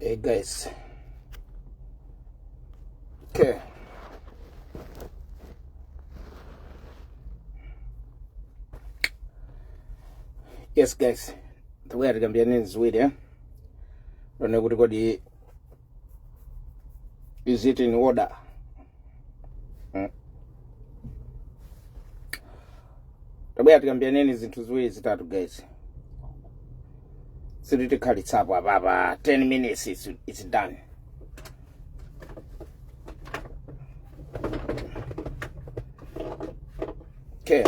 Hey guys. Okay. Yes guys. Tikuya tikambirane ziwiri eh. Lone kuti kodi Is it in order? Mm. tabwera tikambiyaneni zinthu ziwiri zitatu guys siri tikhalitsapo apapa 10 minutes it's, it's done okay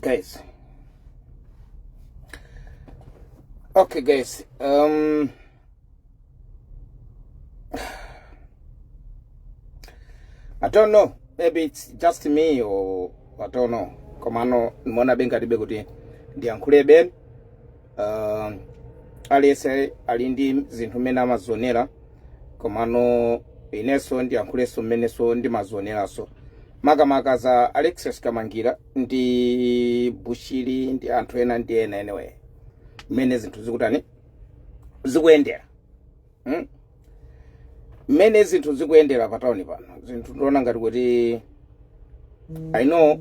guys Okay, guys. Um, I don't know. Maybe it's just me or I don't know. Komano ndimaonabe ngati libe kuti ndiyankhule ben. Um, aliyese ali ndi zinthu mmene amazionera komano inenso ndiyankhulenso mmenenso ndimazioneraso makamaka za Alexious kamangira ndi bushiri ndi anthu ena ndi ena anyway mmene zinthu zikutani zikuyendera hmm? mmene hmm? zinthu zikuyendera pa tauni pano zinthu ndiona ngati kuti i know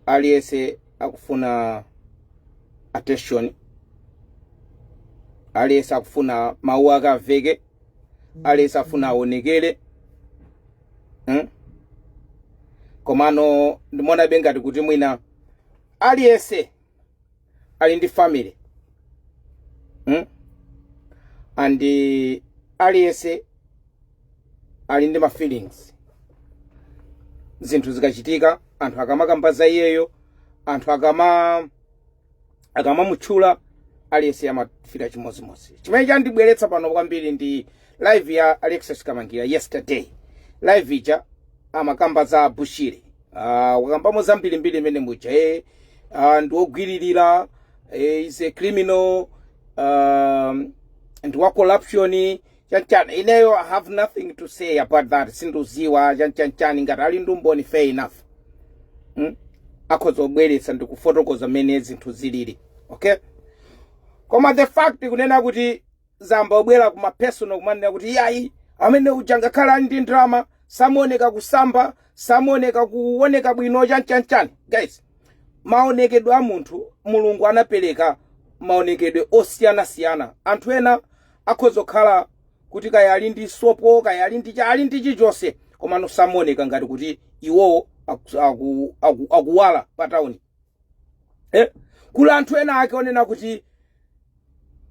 aliyense akufuna attention aliyense akufuna mawu ake aveke aliyense afuna aonekere hmm? komano ndimaonabe ngati kuti mwina aliyese ali ndi family hmm? and aliyese ali ndi ma feelings zinthu zikachitika anthu akamakamba za iyeyo anthu akama akamamutchula aliyense amafila chimodzimodzi chimene chandibweretsa pano kwambiri ndi live ya alexious kamangira yesterday live ija amakamba za bushiri uh, wakambamo zambirimbiri imene muja e uh, ndiwogwiririra e, is a criminal um, ndi wa corruption chanchan ineyo i have nothing to say about that sindudziwa chanchanchan ngati ali ndi umboni fair enough mm? akhoza kubweretsa ndikufotokoza mmene zinthu zilili okay koma the fact kunena kuti ayamba kubwera kuma personal kumanena kuti iyayi amene uja ngakhale ali ndi ndalama samaoneka kusamba samaoneka kuoneka bwino chanchanchan guys maonekedwe a munthu mulungu anapereka maonekedwe osiyanasiyana anthu ena akhoza kukhala kuti kaya ali ndi sopo kaya ali ndi cha- ali ndi chilichonse komano samaoneka ngati kuti iwowo aku- aku- aku- akuwala pa tawuni eh? kuli anthu ena ake onena kuti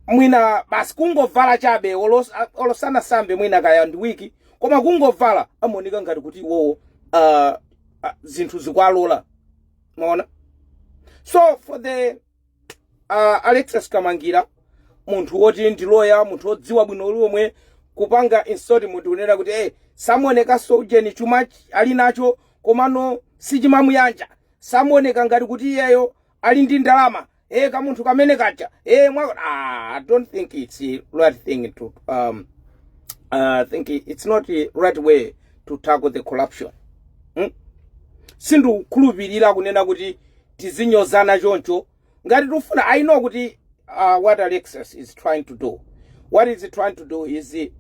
mwina basi kungovala chabe olos- a- olo asanasambe mwina kaya ndi wiki koma kungovala amaoneka ngati kuti iwowo ah, ah, zinthu zikwalola mwaona so for the a Alexious Kamangira munthu woti ndi loya munthu wodziwa bwino lomwe kupanga insult munthu kunena kuti eh samuonekanso ujeni chuma ch- ali nacho komano sichimamuyanja samuoneka ngati kuti iyeyo ali ndi ndalama eh kamunthu kamene kaja eh mwa ah, I don't think it's a right thing to um uh, I think it's not the right way to tackle the corruption hmm? sindikukhulupirira kunena kuti tizinyozana choncho ngati tikufuna i know kuti uh, what alexis is trying to do what is he trying to do is he-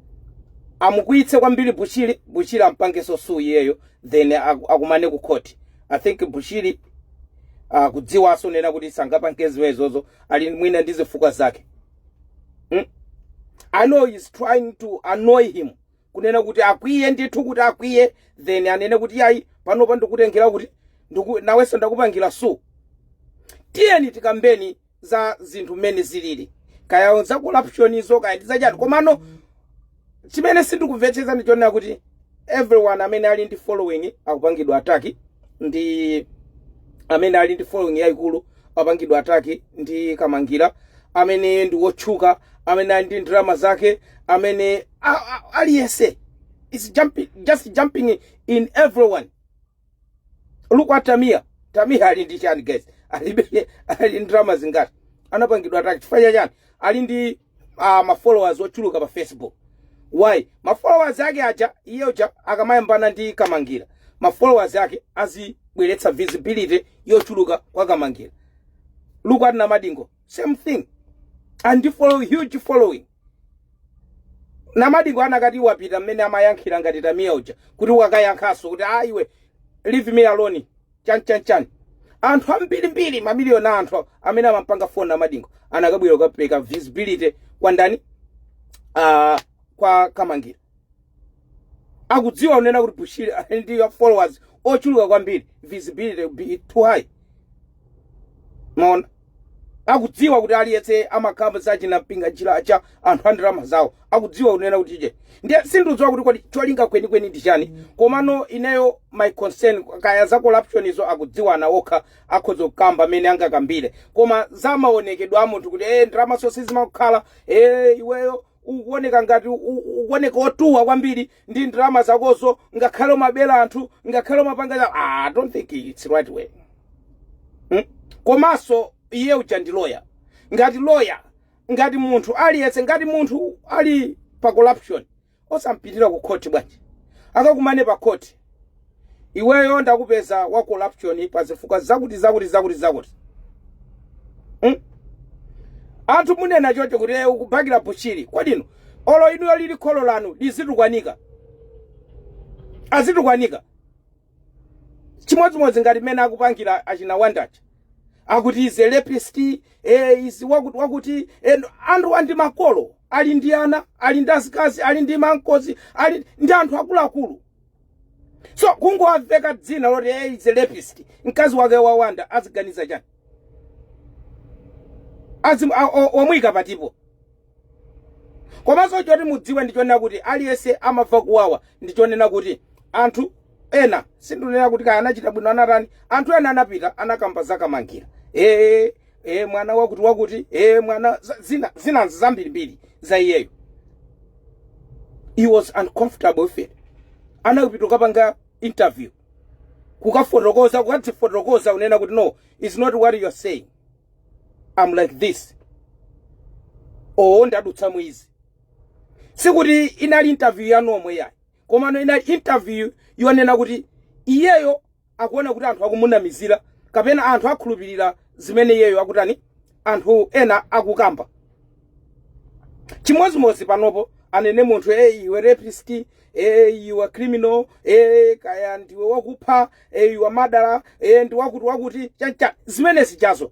amukwiyitse kwambiri bushiri bushiri ampangenso sue iyeyo then aku- akumane ku khoti i think bushiri uh, akudziwanso kunena kuti sangapange zimenezo ali mwina ndi zifukwa zake mm? i know he's trying to annoy him kunena kuti akwiye ndithu kuti akwiye then anene kuti yayi panopa ndikutengera kuti ndiku, nawenso ndakupangira sue tiyeni tikambeni za zinthu mmene zilili kaya za corruptionizo kaya ndi zachati komano chimene sindikumvetsetsa ndi chonena kuti everyone amene ali ndi following akupangidwa attack ndi amene ali ndi following yayikulu apangidwa attack ndi kamangira amene ndi wotchuka amene ali ndi ndalama zake amene A- a- aliyense is jumping, just jumping in everyone look at tamia tamia ali ndi chani guys alibe ali ndi ndalama zingati anapangidwa attack chifukwa cha chani ali ndi uh, mafollowers ochuluka pa facebook why mafollowers ake aja iye uja akamayambana ndi kamangira mafollowers ake azibweretsa visibility yochuluka kwa kamangira look at namadingo same thing ali ndi follow huge following Namadingo anakati apite mmene amayankhira ngati Tamia uja kuti akayankhenso kuti ah iwe leave me alone chani chani chani. Anthu ambiri mbiri mamiliyoni a anthu amene amampanga follow Namadingo anakabwera kukapereka visibility kwa ndani? Uh, kwa Kamangira. akudziwa kunena kuti bushiri ali ndi followers ochuluka kwambiri visibility will be too high mwaona akudziwa kuti aliyense amakhamu sachina mpinga njira cha anthu a ndalama zawo akudziwa kunena kuti je ndiye sindiudziwa kuti kodi cholinga kwenikweni ndi chani komano ineyo my concern kaya za corruption izo akudziwana okha akhoza kukamba amene angakambire koma za maonekedwe a munthu kuti eh ndalamazo sizimakukhala eh iweyo Ukuwoneka ngati u, u, ukuwoneka wotuwa kwambiri ndi ndalama zakozo, ngakhale umabera anthu, ngakhale umapanga cha. Ah, I don't think it's the right way. Hmm? Komanso iye uja ndi lawyer. Ngati lawyer, ngati munthu aliyense, ngati munthu ali pa corruption, osampitira ku khothi bwanji? Akakumane pa khothi. iweyo ndakupeza wa corruption pa zifukwa zakuti zakuti zakuti zakuti mm? anthu mukunena choncho kuti eh, ukubakira bushiri kodi olo inuyo lili kholo lanu lizitukwanika azitukwanika chimodzimodzi ngati mmene akupangira achina wandacha akuti is a rapist eh, is wakuti wakuti eh, anthu ali ndi makolo ali ndi ana ali ndi azikazi ali ndi ma uncles ali ndi anthu akuluakulu so kungowaveka dzina loti he is a rapist mkazi wake wawanda aziganiza chani Azim- a- o- omuyika patipo komanso choti mudziwe ndichonena kuti aliyense amamva kuwawa ndichonena kuti anthu ena sindinena kuti kaya anachita bwino anatani anthu ena anapita anakamba zakamangira ee e mwana wakuti wakuti e mwana za- zina zina zambirimbiri za iyeyo he was uncomfortable with it anapita kukapanga interview kukafotokoza kukadzifotokoza kunena kuti no it's not what you are saying i'm like this oo ndadutsa mwina sikuti inali interview yanu yomwe iyayi komano inali interview yonena kuti iyeyo akuona kuti anthu akumunamizira kapena anthu akhulupirira zimene iyeyo akutani anthu ena akukamba chimodzimodzi panopo anene munthu e you are rapist e you are criminal e kaya ndiwe wakupha e iwe madala e ndi wakuti wakuti chacha zimenezijazo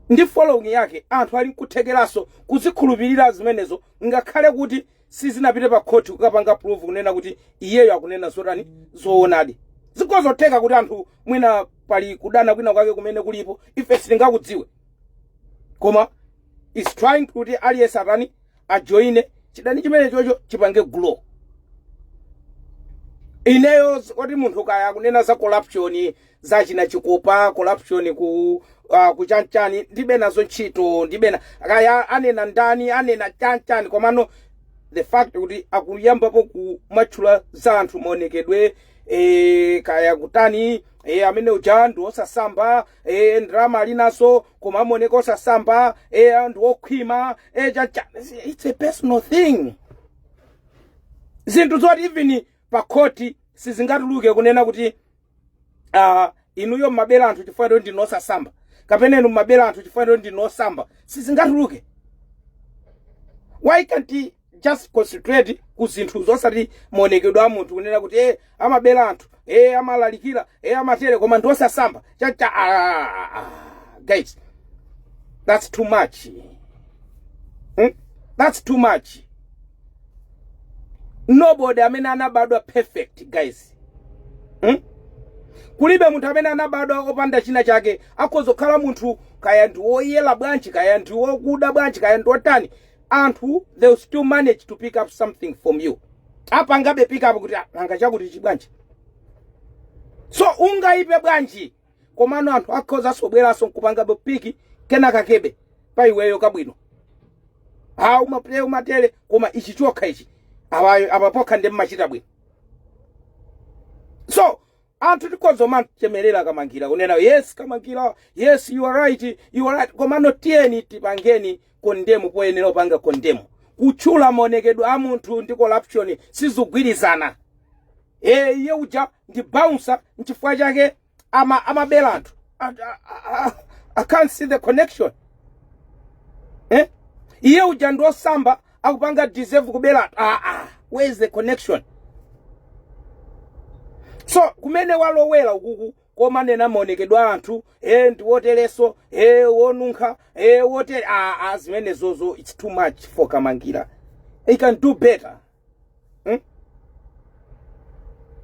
ndi following yake anthu ali nkuthekeraso kuzikhulupirira zimenezo ngakhale kuti sizinapite pa khoti kukapanga prove kunena kuti iyeyo akunena zotani zoonadi zikhoza kutheka kuti anthu mwina pali kudana kwina kwake kumene kulipo ife sitingakudziwe koma he's trying kuti aliyense atani ajoine chidani chimenechocho chipange grow ineyo kuti munthu kaya akunena za corruption zachina chikopa corruption ku uh, kuchanchani ndibe nazo ntchito ndibe na kaya anena ndani anena chanchani komano the fact kuti akuyambapo kumatchula za anthu maonekedwe e, kaya kutani e, amene uja ndi osasamba e, ndalama alinazo koma amaoneka osasamba e, ndi okhwima e, chanchani it's a personal thing zinthu zoti even pa khoti sizingatuluke kunena kuti uh, inuyo mmabera anthu chifukwa choti ndinu osasamba kapena inu mmabera anthu chifukwa choti ndinu osasamba sizingatuluke why can't he just concentrate ku zinthu zosati maonekedwe a munthu kunena kuti eh amabera anthu eh amalalikira eh amatere koma ndi osasamba chacha ah, ah, guys that's too much hmm? that's too much nobody amene anabadwa perfect guys Hmm? Kulibe munthu amene anabadwa opanda china chake. Akhoza kukhala munthu kaya ndi woyera bwanji, kaya ndi wokuda bwanji, kaya ndi wotani. Anthu they will still manage to pick up something from you. Apangabe pick up kuti "Ah, nanga chakutichi bwanji. So ungaipe bwanji komano anthu akhozanso kubweranso nkupangabe piki kenaka kebe pa iweyo kabwino ha umaplay umatele koma ichi chokha ichi abayo apapokha ndi mmachita bwino so anthu tikhozo mamchemerera kamangira kunena yes kamangira yes you are right you are right komano tiyeni tipangeni condemn poyenera kupanga condemn kutchula maonekedwe a munthu ndi corruption sizikugwirizana eh iye uja ndi bouncer nchifukwa chake ama amabela anthu I, I, I, I can't see the connection eh iye uja ndi osamba akupanga deserve kubela anthu ah, ah. where is the connection so kumene walowera ukuku koma nena maonekedwe a anthu ee ndi wotereso ee wonunkha ee wotere aa zimenezozo its too much for kamangira he can do better hmm?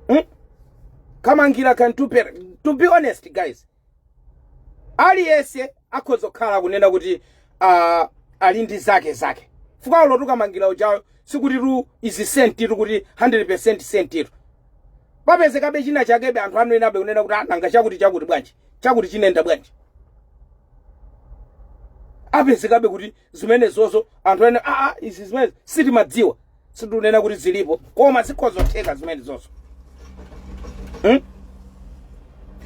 Hmm? kamangira can do better to be honest guys aliyese akhoza kukhala akunena kuti ah, ali ndi zake zake chifukwa olo uti ukamangira ujayo sikuti tu izi sentitu kuti 100 percent sentitu papezekabe china chakebe anthu amenenabe kunena kuti ananga chakuti chakuti bwanji chakuti chinenda bwanji apezekabe kuti zimenezozo anthu ene aa izi zimene sitimazidziwa sindunena kuti zilipo koma zikhozotheka zimenezonso hmm?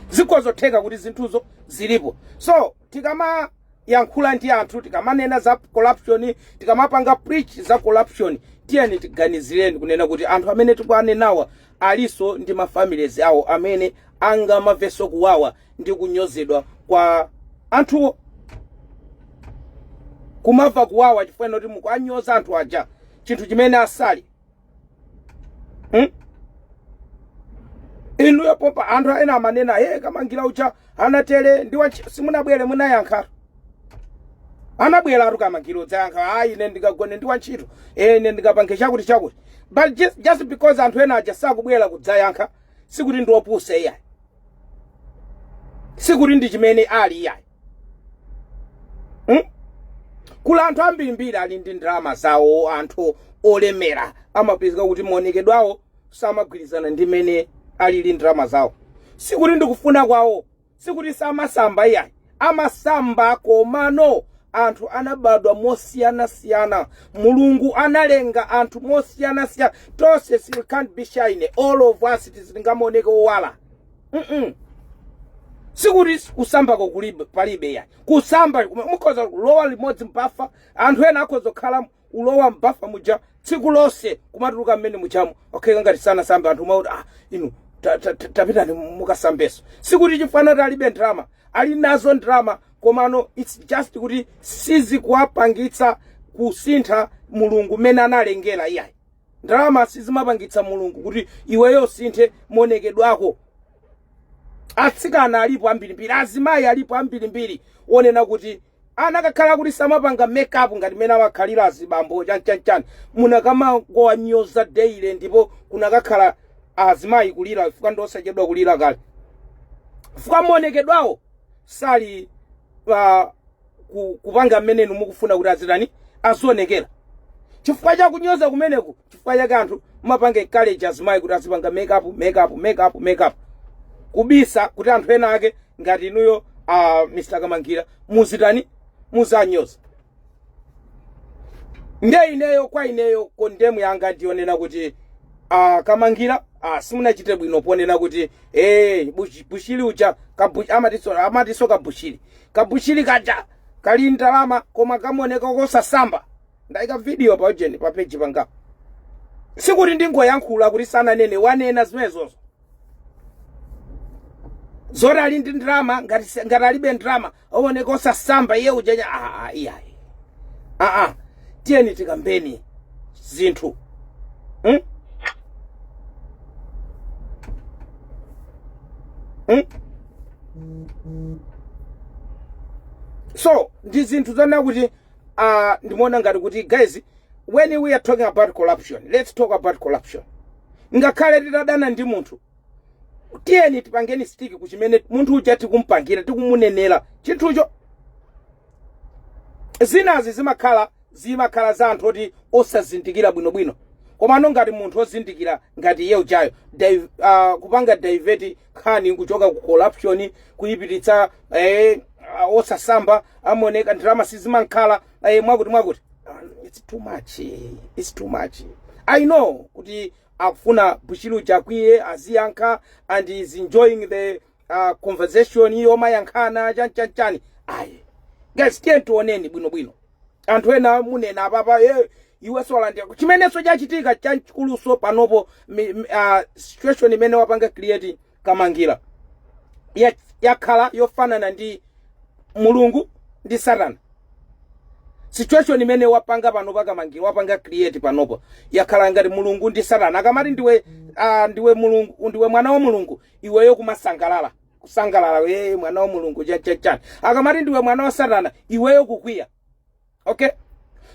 zikhozotheka kuti zinthuzo zilipo so tikamayankhula ndi anthu tikamanena za corruption tikamapanga preach za corruption tiyeni tiganizireni kunena kuti anthu amene tikuwanenawa aliso ndi mafamilies awo amene angamamveso kuwawa ndi kunyozedwa kwa anthuwo kumamva kuwawa chifukwa ndi zoti mukuanyoza anthu aja chinthu chimene asali hmm? inuyo popa anthu ena amanena he kamangira uja anatele ndi wachi- simunabwera munayankha anabweratu kamangira kudzayankha ayi ine sindinagone ndi wantchito e ine sindinapange chakuti chakuti but just, just because anthu ena aja sakubwera kudzayankha sikuti ndi opusa iyayi sikuti ndi chimene ali iyayi hmm? kuli anthu ambirimbiri ali ndi ndalama zawo anthu olemera amapezeka kuti maonekedwe awo samagwirizana ndi mene alili ndalama zawo sikuti ndikufuna kwawo sikuti samasamba iyayi amasamba komano anthu anabadwa mosiyanasiyana mulungu analenga anthu mosiyanasiyana tonse si- can't be shining all of us sitingamaoneke owala Mm-mm. sikuti kusambako kulibe palibe ayi kusamba mukhoza kulowa limodzi m'bafa anthu ena akhoza kukhala kulowa m'bafa muja tsiku lonse kumatuluka mmene mujamo akhala ngati sanasambe anthu nkumati ah inu ta- ta- ta- tapitani mukasambeso sikuti chifana kuti alibe ndalama ali nazo ndalama komano its just kuti sizikuwapangitsa kusintha mulungu mmene analengera iyayi ndalama sizimapangitsa mulungu kuti iweyo usinthe maonekedwe ako atsikana alipo ambirimbiri azimayi alipo ambirimbiri onena kuti Akanakhala kuti samapanga make up ngati mmene amakhalira azibambo chan chan chan mukanamangowanyoza daily ndipo kukanakhala azimayi kulira chifukwa ndi osachedwa kulira kale chifukwa maonekedwe awo sali ah, ku- kupanga mmene inu mukufuna kuti azitani azionekera chifukwa cha kunyoza kumeneku chifukwa chake anthu mumapanga encourage azimayi kuti azipanga makeup makeup makeup makeup kubisa kuti anthu ena ake ngati inuyo uh, mr kamangira muzitani muziwanyoza nde ineyo kwa ineyo kondemu yanga ndiyonena kuti uh, kamangira uh, simunachite bwino ponena kuti hey, bush, bushiri uja kabu, amatinso, amatinso kabushiri kabushiri kaja kali ndalama koma kamaoneka kosasamba ndaika video pa ujeni pa page pangapo sikuti ndingoyankhula kuti sananene wanena zimenezozo zoti ali ndi ndalama ngati si- ngati alibe ndalama aoneka osasamba iye ujenya aa iyayi aa tiyeni tikambeni zinthu hmm? Hmm? so ndi zinthu zonena kuti uh, ndimaona ngati kuti guys when we are talking about corruption let's talk about corruption ngakhale titadana ndi munthu tiyeni tipangeni stick kuchimene munthu uja tikumpangira tikumunenera chinthucho zinazi zimakhala zimakhala za anthu oti osazindikira bwinobwino komano ngati munthu ozindikira ngati iye ujayo div- ah, kupanga divert nkhani kuchoka ku corruption kuyipititsa eh, ah, osasamba amaoneka ndalama sizimankhala eh, mwakuti mwakuti Ah, it's too much eh, it's too much i know kuti akufuna bushiri uja akwiye aziyankha and he's enjoying the uh, conversation iyo omayankhana chanchanchani ayi guys tiyeni tioneni bwinobwino anthu ena munena apapa eh, Iwe siwalandira chimenenso chachitika chachikulunso panopo mi, mi, ah, situation imene wapanga create Kamangila ya, yakhala yofanana ndi Mulungu ndi Satana. Situation imene wapanga pano pa Kamangila wapanga create panopo yakhala ngati Mulungu ndi Satana. Akamati ndiwe ah, ndiwe Mulungu ndiwe mwana wa Mulungu iweyo kumasangalala kusangalala ndiwe mwana wa Mulungu cha cha cha. Akamati ndiwe mwana wa Satana iweyo kukwiya. okay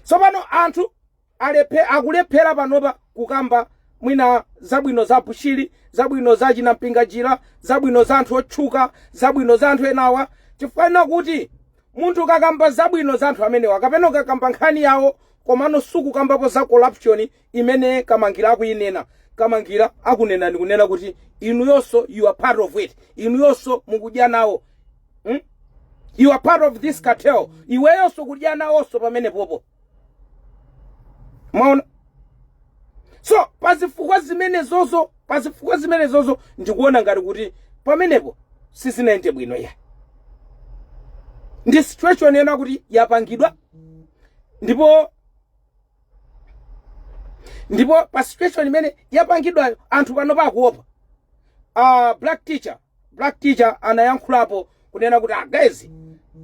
tsopano anthu alephe akulephera panopa kukamba mwina zabwino za bushiri zabwino za chinampinga jira zabwino za anthu otchuka zabwino za anthu enawa chifukwa chonena kuti munthu ukakamba zabwino za anthu amenewa kapena ukakamba nkhani yawo komano sukukambapo za corruption imene kamangira akuyinena kamangira akunena ndi kunena kuti inuyonso you are part of it inuyonso mukudya nawo hmm? you are part of this cartel iweyonso ukudya nawonso pamene popo mwaona so pazifukwa zimenezozo pazifukwa zimenezozo ndikuona ngati kuti pamenepo sizinayende bwino ya ndi situation yena kuti yapangidwa ndipo ndipo pa situation imene yapangidwayo anthu pano pakuopa uh, black teacher black teacher anayankhulapo kunena kuti a guys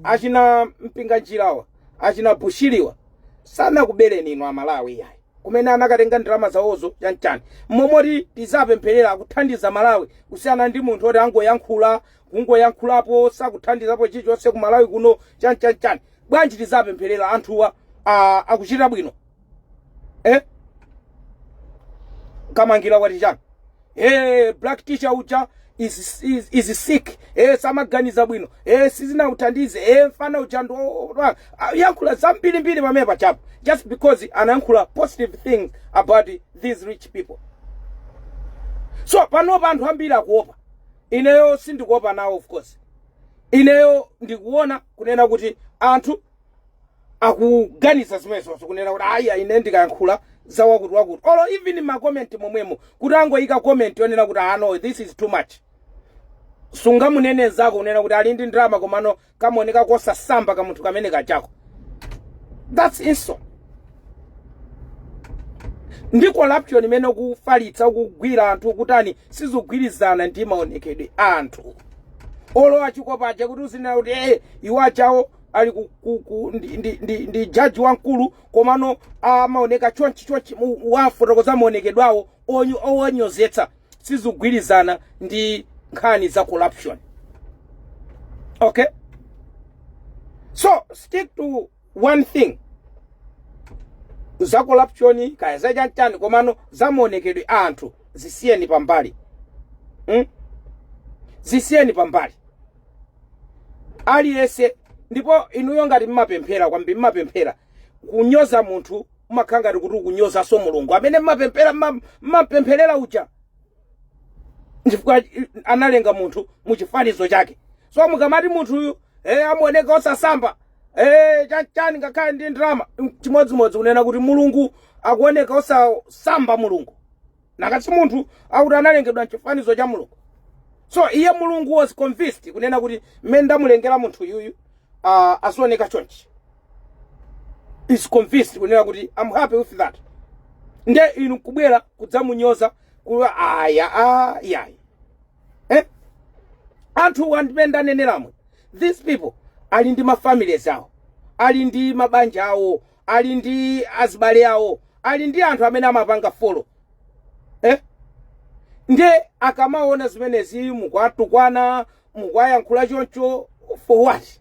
achina mpinganjirawa achina bushiriwa sanakubereni inu amalawi iyayi komwe anakatenga ndalama zawozo chanchani mmalo moti tiziwapempherera akuthandiza malawi kusiyana ndi munthu oti akungoyankhula kungoyankhulapo sakuthandizapo chilichonse ku malawi kuno chanchanchani bwanji tiziwapempherera anthuwa ah, akuchita bwino eh? kamangira watichani hey, black teacher uja is, is, is sick hey, samaganiza bwino hey, sizinakuthandize hey, mfana uja ndi kuyankhula zambirimbiri pamene pajapo just because anayankhula positive things about these rich people so panopa anthu ambiri akuopa ineyo sindikuopa nawo of course ineyo ndikuona kunena kuti anthu akuganiza zimenezozo kunena kuti ayi ine ndikayankhula za akutiakuti olo even mmakomenti momwemo kuti angoyika komenti yonena kuti ah no this is too much sungamunene nzako kunena kuti ali ndi ndalama komano kamaoneka kosasamba ka munthu kamene kajako that's insult ndi corruption imene ukufalitsa ukugwira anthu ukutani sizikugwirizana ndi maonekedwe a anthu olo a chikopa aja kuti uzinena kuti ee iwo ajawo ali ku, ku, ku, ndi, ndi, ndi, ndi jaji wamkulu komano amaoneka chonchi chonchi mu- wafotokoza maonekedwe awo onyo- owanyozetsa sizikugwirizana ndi nkhani za corruption okay so stick to one thing za corruption kaya za chanchani komano za maonekedwe a anthu zisiyeni pambali mm? zisiyeni pambali aliyense ndipo inuyo ngati mmapemphera kwambiri mmapemphera kunyoza munthu umakhala ngati kuti ukunyozanso mulungu amene mmapemphera mma- mmapempherera uja chifukwa analenga munthu mu chifanizo chake so mukamati munthuyu eh, amaoneka osasamba Eh, chachani ngakhale ndi drama chimodzimodzi kunena kuti mulungu akuoneka osasamba mulungu nanga si munthu akuti analengedwa mchifanizo cha mulungu so iye mulungu was convinced kunena kuti mmene ndamulengera munthu yuyu uh, azioneka chonchi he's convinced kunena kuti am happy with that nde inu kubwera kudzamunyoza kuti aya ayayi eh? anthuwa ndi mmene ndaneneramo these people ali ndi mafamilies awo ali ndi mabanja awo ali ndi azibale awo ali ndi anthu amene amawapanga follow eh? nde akamaona zimenezi mukuwatukwana mukuwayankhula choncho for what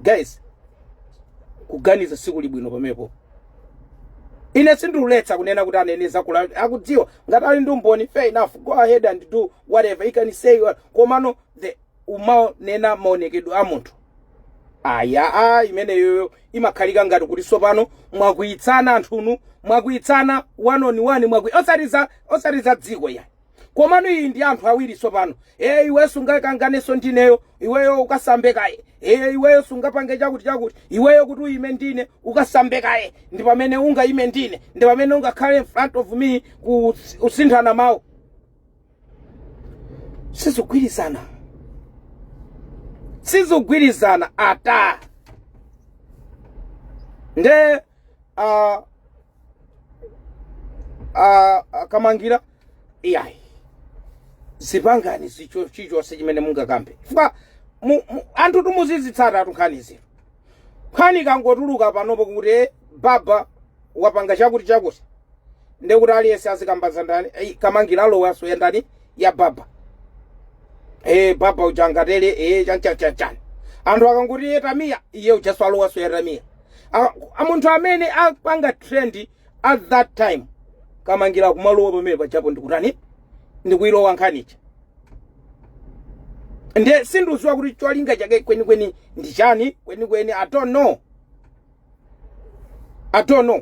guys kuganiza sikuli bwino pamenepo ine sindikuletsa kunena kuti anene zakuti akudziwa ngati ali ndi umboni fair enough go ahead and do whatever he can say what- komano eh kumanena maonekedwe a munthu aya a imeneyoyo imakhalika ngati kuti tsopano mwakwiyitsana anthunu mwakwiyitsana one on one mwakwi osati za osati za dziko yani komano iyi ndi anthu awiri tsopano ee iweyo sungakanganenso ndineyo iweyo ukasambe kaye ee iweyo sungapange chakuti chakuti iweyo kuti uyime ndine ukasambe kaye ndi pamene ungayime ndine ndi pamene ungakhale in front of me kusinthana mawu sizikugwirizana sizikugwirizana ata nde a a akamangira iyayi zipangani choncho chichonse chimene mungakambe chifukwa mu- mu- anthu timuzitsata tinkhani zino nkhani ikangotuluka panopo kuti eh, baba wapanga chakuti chakuti ndekuti aliyense azikamba za ndani eh, kamangira alowanso ya ndani ya baba eh, baba uja ngati eh, chanchachanchani anthu akangoti iye tamiya iye ujanso alowanso ya tamiya A- a- munthu amene akupanga trend at that time kamangira kumalowa pamene pajapo ndikutani ndikuilowa nkhani ija nde sindikudziwa kuti cholinga chake kwenikweni ndi chani kwenikweni i don't know i don't know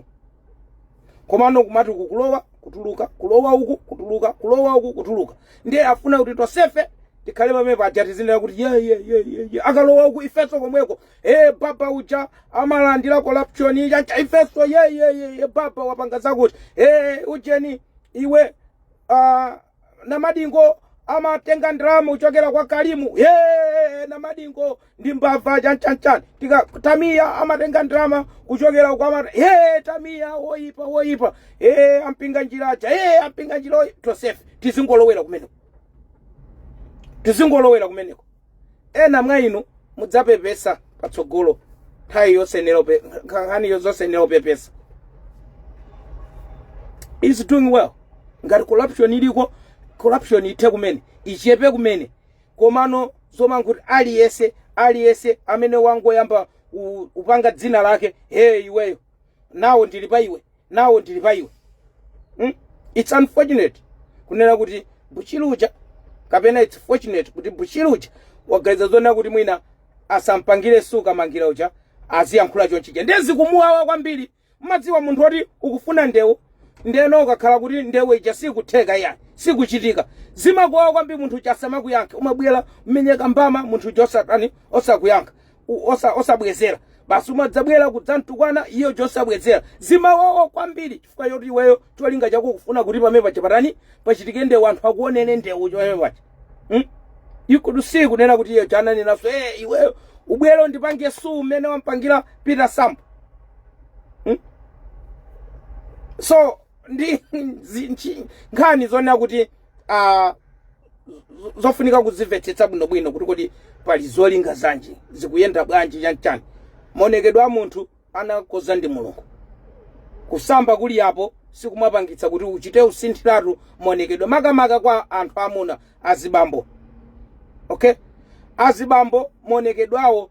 komano kumati uku kulowa kutuluka kulowa uku kutuluka kulowa uku kutuluka ndiye afuna kuti tonsefe tikhale pamene paja tizinena kuti ye ye ye ye ye akalowa uku ifenso komweko ee baba uja amalandira corruption chancha ifeso yeyeyeye baba wapanga zakuti ee ujeni iwe ah, namadingo amatenga ndalama kuchokera kwa karimu ee namadingo ndi mbava chanchanchani tika tamiya amatenga ndalama kuchokera kwa mata ee tamiya woyipa woyipa ee ampinga njira aja ee ampinga njira oyipa tosefe tizingolowera kumeneko tizingolowera kumeneko Ena mwa inu mudzapepesa patsogolo nthawi yosenera upe- nkha- nkhani yo- zosenera upepesa is doing well ngati corruption iliko corruption ithe kumene ichepe kumene komano zomangoti aliyense aliyense amene wangoyamba kupanga dzina lake he iweyo nawo ndili pa iwe nawo ndili pa iwe mm? its unfortunate kunena kuti bushiri uja kapena its fortunate kuti bushiri uja waganiza zonena kuti mwina asampangire sue Mangira uja aziyankhula chonchi uja ndiye zikumuwawa kwambiri mmadziwa munthu woti ukufuna ndewu ndeno ukakhala kuti ndewu ija sikutheka iya sikuchitika zimakuwawa kwambiri munthu uja asamakuyankhe umabwera umenye kambama munthu uja osatani osakuyankha u- osa- osabwezera basi umadzabwera kudzamtukwana iye uja osabwezera zimawawa kwambiri chifukwa choti iweyo cholinga chako kufuna kuti pamene paja patani pachitike ndewu anthu akuonere ndewu pamene paja hmm? ikudu si kunena kuti iye uja ananenaso hey, iweyo ubwere undipange sue mmene wampangira peter sambo so ndi zi- nchi- nkhani zonena kuti uh, zofunika kuzimvetsetsa bwinobwino kuti kodi pali zolinga zanji zikuyenda bwanji chanchani maonekedwe a munthu anakoza ndi mulungu kusamba kulipo sikumapangitsa kuti uchite kusinthiratu maonekedwe makamaka kwa anthu amuna azibambo okay azibambo maonekedwe awo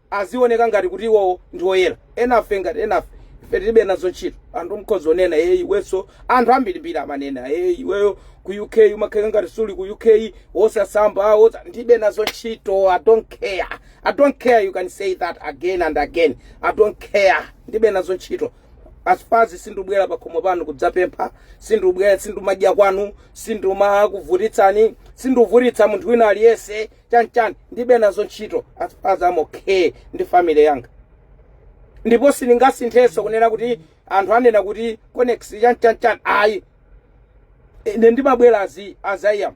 azioneka ngati kuti iwowo ndi oyera enafe ngati enafe ife tilibe nazo ntchito anthu nkhozonena ee iwenso anthu ambirimbiri amanena ee iweyo ku uk umakhala ngati suli ku uk wosasamba wosa ndibe nazo ntchito i don't care i don't care you can say that again and again i don't care ndibe nazo ntchito as far as sindubwera pakhomo panu kudzapempha sindubwera sindumadya kwanu sindumakuvutitsani sinduvutitsa munthu wina aliyense chanchani ndibe nazo ntchito as far as I'm okay ndi family yanga ndipo sindingasinthenso kunena kuti anthu anena kuti conex chanchanchani ayi ine ndimabwera as I, as I am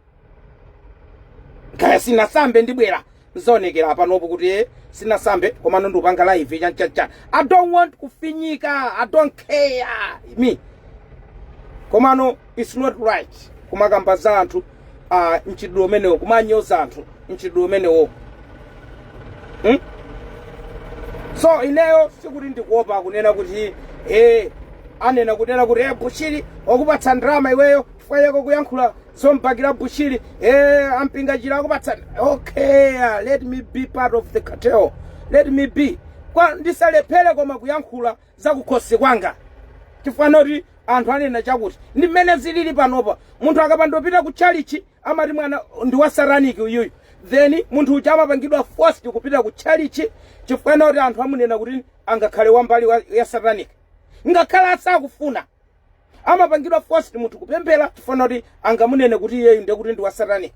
kaya sinasambe ndibwera nzaonekera panopo kuti eh, sinasambe komano ndikupanga live chanchanchani i don't want kufinyika i don't care me komano its not right kumakamba za anthu ah, mchitidwe umenewo kumanyoza anthu mchitidwe umenewo hmm? so ineyo sikuti ndikuopa kunena kuti eh, anena kunena kuti eh, bushiri wakupatsa ndalama iweyo chifukwa chako kuyankhula zombakira bushiri eh, ampingachira akupatsa okay ah, let me be part of the cartel let me be kwa ndisalephere koma kuyankhula zakukhosi kwanga chifukwa choti anthu anena chakuti ndi mmene zilili panopa munthu akapandopita ku chalichi amati mwana ndi wa sataniki uyuyu then munthu uja amapangidwa forced kupita ku chalichi chifukwa choti anthu amunena kuti angakhale wambali ya sataniki ngakhale asakufuna amapangidwa forced munthu kupemphera chifukwa kuti angamunene kuti iyeyu ndiye kuti ndi wa satanic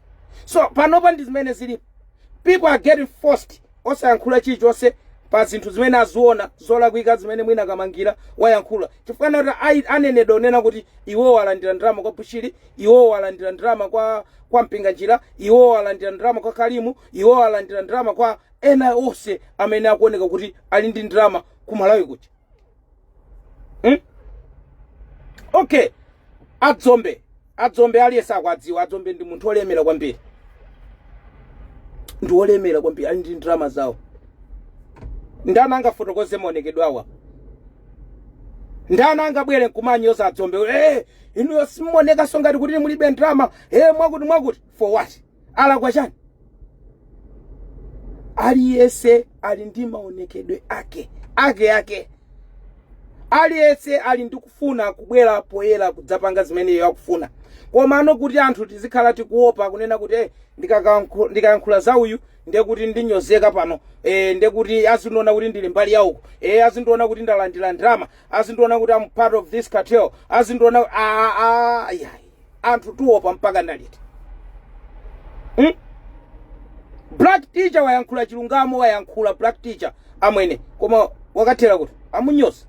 so panopa ndi zimene zilipo people are getting forced osayankhula chilichonse pa zinthu zimene aziona zolakwika zimene mwina kamangira wayankhula chifukwa kuti ayi- anenedwa kunena kuti iwowo alandira ndalama kwa bushiri iwowo alandira ndalama kwa kwa mpinganjira iwowo alandira ndalama kwa kalimu iwowo alandira ndalama kwa ena onse amene akuoneka kuti ali ndi ndalama ku malawi kuja hmm? okay adzombe adzombe aliyense akuwadziwa adzombe ndi munthu olemera kwambiri ndi olemera kwambiri ali ndi ndalama zawo ndani angafotokoze maonekedwe awa ndani angabwere nkumanyoza adzombe eh inuyo simuonekanso ngati kuti mulibe ndalama eh mwakuti mwakuti for what alakwa chani aliyense ali ndi maonekedwe ake ake ake aliyense ali ndi kufuna kubwera poyera kudzapanga zimene iye akufuna komano kuti anthu tizikhala tikuopa kunena kuti eh, ndikakankhu- ndikayankhula za uyu ndiye kuti ndinyozeka pano eh, ndiye kuti azindiona kuti ndili mbali yauko eh, azindiona kuti ndalandira ndalama azindiona kuti am part of this cartel azindiona ah, ah, yeah. anthu tiopa mpaka liti hmm? black teacher wayankhula chilungamo wayankhula black teacher amwene koma wakathera kuti amunyoze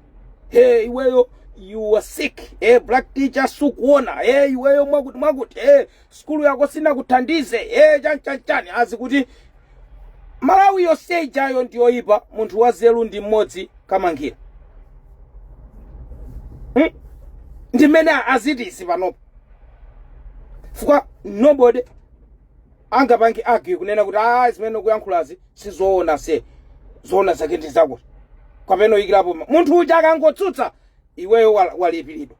he iweyo you were sick eh black teacher sukuona eh iweyo mwakuti mwakuti eh sukulu yako sinakuthandize eh chani chani chani azi kuti malawi yonse ijayo ndi yoyipa munthu wanzeru ndi mmodzi kamangira hmm? ndi mmene azitisi panopa fukwa nobody angapange argue kunena kuti ayi zimene ukuyankhulazi sizoona se zoona zake ndi zakuti kapena kuyikirapo ma- munthu uja akangotsutsa iweyo wal- walipiridwa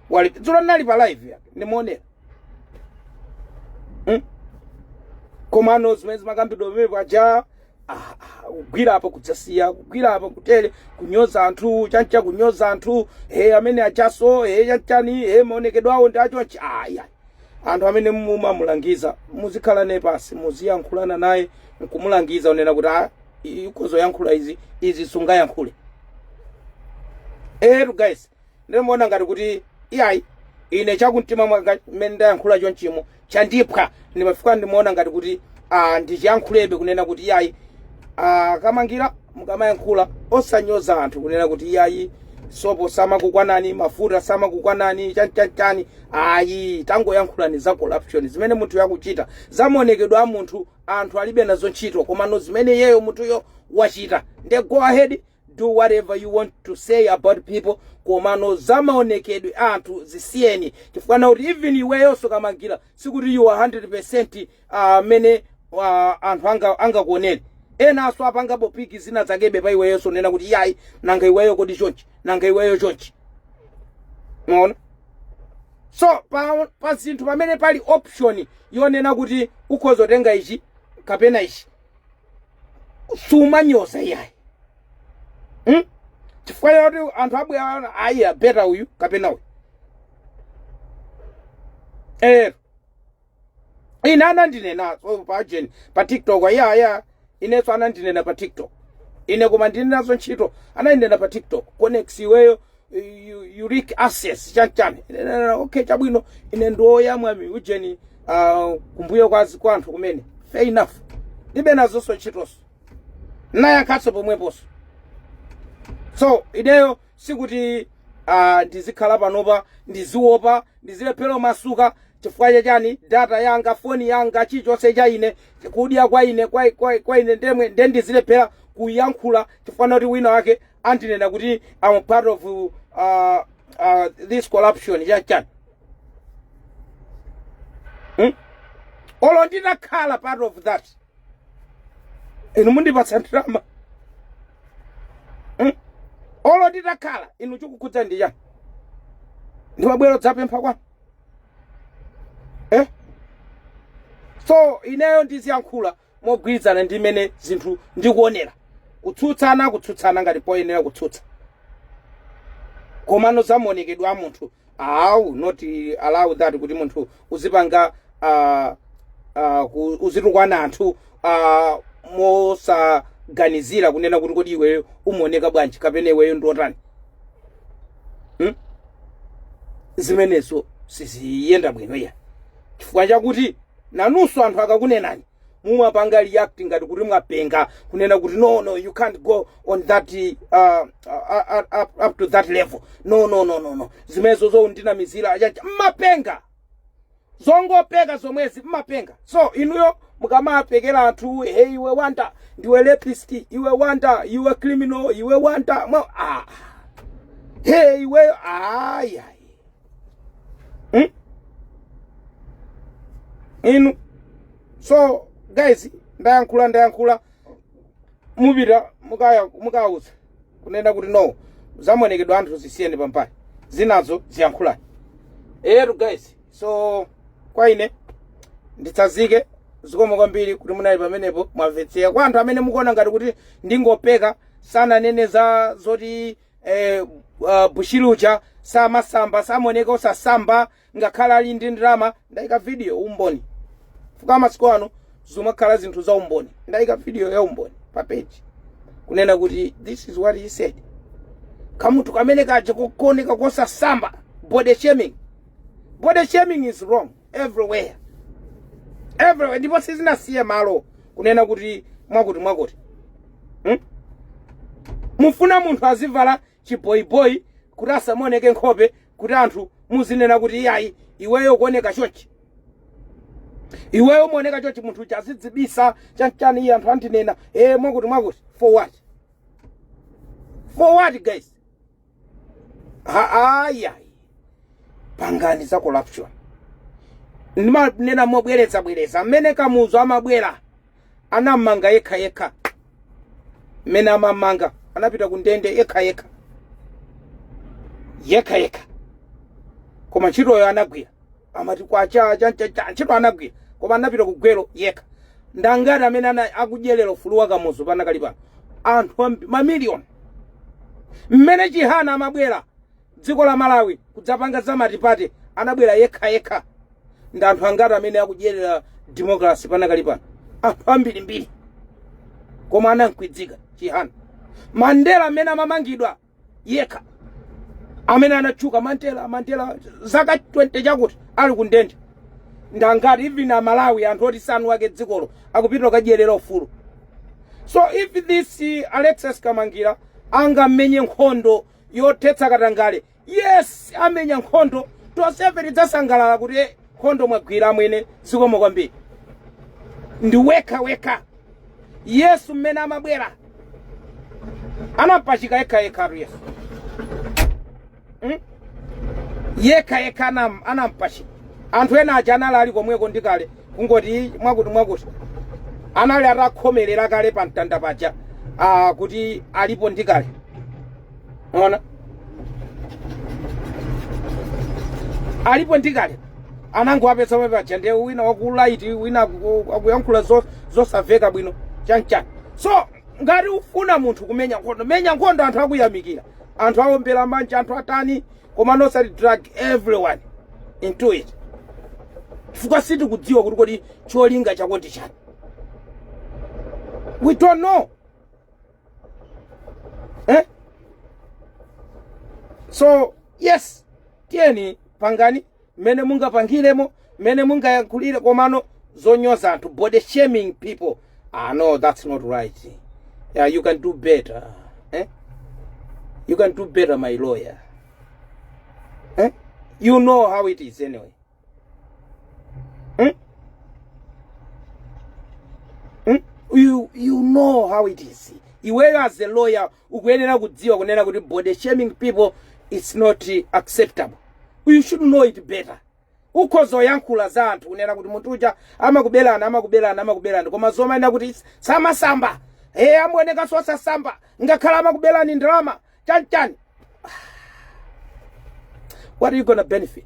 wali dzulo ndinali pa live yake ndimaonera mm? komano zimene zimakambidwa pamene paja ah, ah, kugwira apa kudzasiya kugwira apa kutere kunyoza anthu chanchani kunyoza anthu he amene achaso he chanchani he maonekedwe awo ndi acho achi aya anthu amene mumamulangiza muzikhala naye pansi muziyankhulana naye nkumulangiza kunena kuti ah, ikozo yankhula izi izi sungayankhule tu guys Ndimaona ngati kuti iyayi ine chakumtima mwanga mmene ndayankhula chonchimo chandiphwa ndimafika ndimaona ngati kuti ah, ndichiyankhulebe kunena kuti iyayi ah, Kamangira mukamayankhula osanyoza anthu kunena kuti iyayi sopo samakukwanani mafuta samakukwanani chanchanichani ayi tangoyankhulani za corruption zimene munthuyo akuchita zamaonekedwe a munthu anthu alibe nazo ntchito komano zimene iyeyo munthuyo wachita nde go ahead do whatever you want to say about people komano za maonekedwe a anthu zisiyeni chifukwa na kuti even iweyonso Kamangira sikuti you are 100 percent mmene uh, anthu anga- angakuonere enanso atha ngakhale picker zina zakebe pa iweyonso nena kuti yayi nanga iweyo kodi chonchi nanga iweyo chonchi maona so pa, pa zinthu pamene pali option yonena kuti ukhoza kutenga ichi kapena ichi sumanyoza iyayi hmm? chifukwa yoti anthu abwera ayi abeta uyu kapena uyu eee ine anandinenanso pajeni pa tiktok ayaya inenso anandinena pa tiktok ine koma ndilibe nazo ntchito anandinena pa tiktok conex iweyo u- you lick asses chanchani Ine ndinena, okay chabwino ine ndiwoyamwa mu ujeni ah, kumbuyo kwa zi- kwa anthu kumene fair enough ndilibe nazonso ntchitonso nayankhanso pomweponso so ineyo sikuti ah, ndizikhala panopa ndiziwopa ndizilephera masuka chifukwa chachani data yanga foni yanga chilichonse cha ine kudya kwa ine kwa, kwa, kwa ine ndemwe nde ndizilephera kuyankhula chifukwa choti wina wake andinena kuti I'm part of uh, uh, this corruption ya chani hmm? olo nditakhala part of that inu mundipatsa ndalama hmm? olo nditakhala inu chikukukhudzani ndi chani ndimabwera dzapempha kwanu eh? so ineyo ndiziyankhula mogwirizana ndi mmene zinthu ndikuonera kutsutsana kutsutsana ngati poyenera kutsutsa komano za maonekedwe a munthu I will not allow that kuti munthu uzipanga uh, uh, ku- uzitukwana anthu uh, mosaganizira kunena kuti kodi iweyo umaoneka bwanji kapena iweyo ndiotani hmm? zimenezo siziyenda bwino iyayi chifukwa chakuti nanunso anthu akakunenani mumapanga react ngati kuti mwapenga kunena kuti no no you can't go on that uh, uh, uh, up, up to that level no no no no no zimenezo zoundinamizira achacha mmapenga zongopeka zomwezi mmapenga so inuyo mukamapekera anthu hey iwe wanda ndiwe rapist iwe wanda iwe criminal iwe wanda mwa ah. hey iweyo ayayi hmm? inu so guys ndayankhula ndayankhula mupita mukaya- mukawuza kunena kuti no zamonekedwa anthu zisiyeni pambali zinazo ziyankhulani eyetu guys so kwa ine nditsazike zikomo kwambiri kuti munali pamenepo mwamvetsera kwa anthu amene mukuona ngati kuti ndingopeka sananene za zoti eh, uh, bushiri uja samasamba samaoneka osasamba ngakhale ali ndi ndalama ndayika video umboni fuka masiku ano zimakhala zinthu za umboni ndayika video ya umboni pa page kunena kuti this is what he said kamunthu kamene kaja kooneka kosasamba body shaming body shaming is wrong everywhere everywhere ndiponso zinasiye malo kunena kuti mwakuti mwakuti hmm? mufuna munthu azivala chiboyiboyi kuti asamaoneke nkhope kuti anthu muzinena kuti iyayi iweyo kuoneka chonchi iweyo umaoneka chonchi munthu uja azidzibisa chanchani iye anthu andinena e mwakuti mwakuti for what for what guys ayi pangani za corruption ndimanena mobwereza bwereza mmene kamuzu amabwera anammanga yekha yekha mmene amammanga anapita ku ndende yekha yekha yekha yekha koma ntchitoyo anagwira amati kwacha chanchacha ntchito anagwira koma anapita ku gwero yekha ndangati amene ana- akudyerera ufulu wa kamuzu panakali pano anthu ambi- mamiliyoni mmene chihana amabwera dziko la malawi kudzapanga za matipate anabwera yekha yekha ndi anthu angati amene akudyerera democracy panakali pano anthu ambirimbiri koma anamkwidzika chihana mandela mmene amamangidwa yekha amene anatchuka mandela mandela zaka 20 chakuti ali ku ndende ndangati even amalawi anthu oti si eni ake dzikolo akupita kukadyerera ufulu so if this uh, alexis kamangira angamenye nkhondo yothetsa katangale yes amenya nkhondo tonsefe tidzasangalala kuti eh, nkhondo mwagwira amwene zikomo kwambiri ndi wekha wekha yesu mmene amabwera anapachika yekha yekhatu yesu Mm? yekha yekha anam- anampachika anthu ena aja anali ali komweko ndi kale kungoti mwakuti mwakuti anali atakhomerera kale pa mtanda paja ah, kuti alipo ndi kale ona analipo ndi kale anangowapeza papaja ndiye wina waku right wina aku- akuyankhula zo- zosamveka bwino chanchani so ngati ukufuna munthu kumenya nkhondo menya nkhondo anthu akuyamikira anthu awombera manja anthu atani koma not osati drag everyone into it chifukwa sitikudziwa kuti kodi cholinga chako ndi chani we don't know eh? so yes tiyeni pangani mmene mungapangiremo mmene mungayankhulire komano zonyoza anthu body shaming people ah no that's not right yeah, you can do better eh? you can do better my lawyer eh? you know how it is anyway Hmm? Hmm? You, you know how it is iweyo as a lawyer ukuyenera kudziwa kunena kuti body shaming people it's not acceptable you should know it better ukhoza kuyankhula za anthu kunena kuti munthu uja amakubelani amakubelani amakubelani koma zomanena kuti samasamba eh amaonekanso osasamba ngakhale amakubelani ndalama Chani chani. What are you gonna benefit?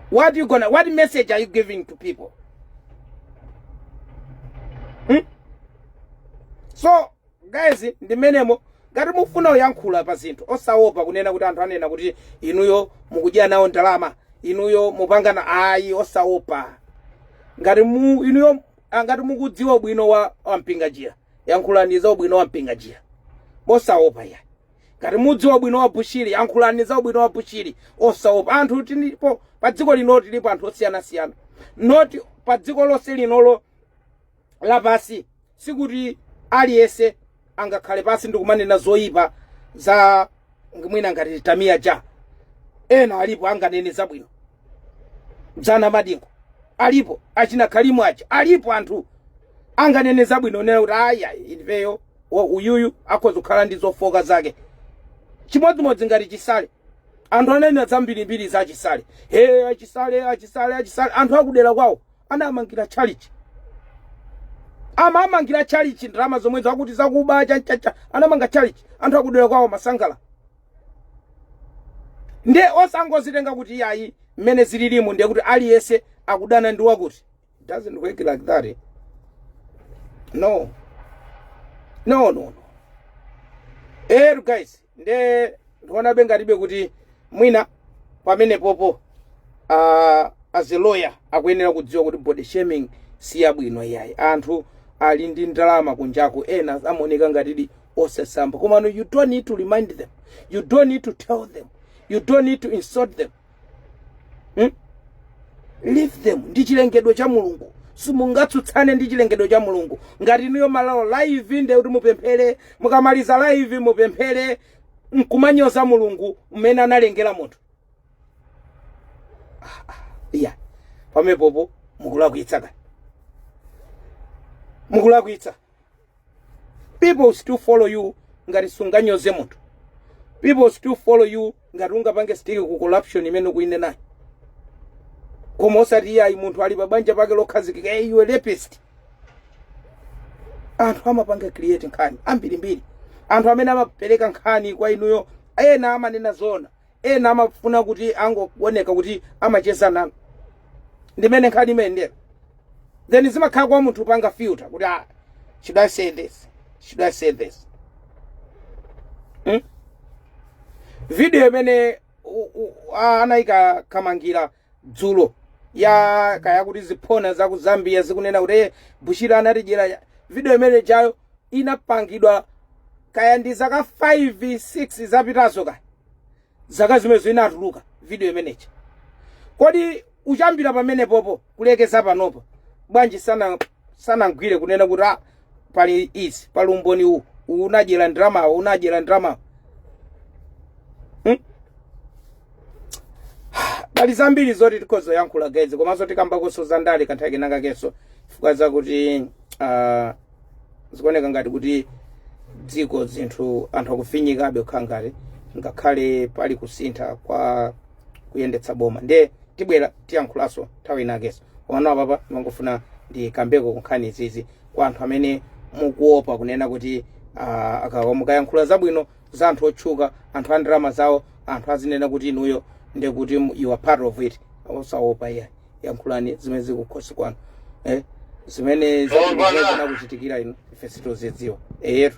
What you gonna what message are you giving to people? Hmm? So guys ndi mmenemo ngati mufuna kuyankhula pa zinthu osaopa kunena kuti anthu anena kuti inuyo mukudyera nawo ndalama inuyo mupangana ayi osaopa ngati mu inuyo ah, ngati mukudziwa ubwino wa wa Mpinganjira yankhulani za ubwino wa Mpinganjira mosaopa ya ngati mukudziwa ubwino wa Bushiri yankhulani za ubwino wa Bushiri osaopa anthu tilipo pa dziko lino tilipo anthu osiyanasiyana not pa dziko lonse linolo lapansi sikuti aliyense angakhale pansi ndikumanena zoyipa za Ng- mwina ngati tamiya ja ena alipo anganene zabwino za Namadingo alipo achina kalimu aja alipo anthu anganene zabwino kunena kuti ayi ifeyo wa- uyuyu akhoza kukhala ndi zofooka zake chimodzimodzi ngati Chisale anthu ananena zambirimbiri za Chisale he a Chisale a Chisale a Chisale anthu akudera kwawo anamangira tchalichi amamangira tchalichi ndalama zomwezo akuti zakuba chanchani anamanga tchalichi anthu akudera kwawo amasangalala ndiye osangozitenga kuti iyayi mmene zililimu ndiye kuti aliyense akudana ndi wakuti It doesn't work like that eh? no no no no ero guys nde ndikuonabe ngatibe kuti mwina pamenepopo uh, as a lawyer akuyenera kudziwa kuti body shaming si yabwino iyayi anthu ali ndi ndalama kunjaku ena amaoneka ngatidi osasamba komano you don't need to remind them you don't need to tell them you don't need to insult them hmm? leave them ndi chilengedwe cha mulungu simungatsutsane ndi chilengedwe cha mulungu ngati inuyo malowa live nde kuti mupemphere mukamaliza live mupemphere nkumanyoza mulungu mmene analengera munthu Ah, ah, iya pamenepopo mukulakwitsa kani mukulakwitsa people will still follow you ngati sunganyoze munthu people will still follow you ngati ungapange stick ku corruption imene ukuinenayo koma osati iyayi munthu ali pa banja pake lokhazikika hey, you a rapist anthu amapanga create nkhani ambirimbiri anthu amene amapereka nkhani kwa inuyo ena amanena zoona ena amafuna kuti angooneka kuti amacheza nanu ndi mmene nkhani imayendera then zimakhala kwa munthu panga filter kuti ah, should i say this should i say this hmm? video imene u- u- a- anayika kamangira dzulo ya kaya kuti ziphona za ku zambia zikunena kuti "Eh, bushiri anatidyera ya-" video imene ijayo inapangidwa kaya ndi zaka 5 6 zapitazo kaya zaka zimenezo inatuluka video imeneja kodi kuyambira pamenepopo kulekeza panopo bwanji sana sanamgwire kunena kuti ah, pali izi pali umboni uwu uwu unadyera ndalamawo unadyera ndalamawo Hmm? pali zambiri zoti tikhoza yankhula guys komanso tikambakonso za ndale kanthawi kenakakenso chifukwa zakuti ah, zikuoneka ngati kuti dziko zinthu anthu akufinyikabe kukhala ngati ngakhale pali kusintha kwa kuyendetsa boma ndiye tibwera tiyankhulanso nthawi inakenso komano apapa ndimangofuna ndikambeko kunkhani izizi kwa anthu amene mukuopa kunena kuti ah, akawa mukayankhula zabwino za anthu otchuka anthu a ndalama zawo anthu azinena kuti inuyo ndiye kuti mu- you are part of it osaopa iya yankhulani zimene zili kukhosi kwanu eh? zimene zinakuchitikirani inu ife sitozidziwa eyetu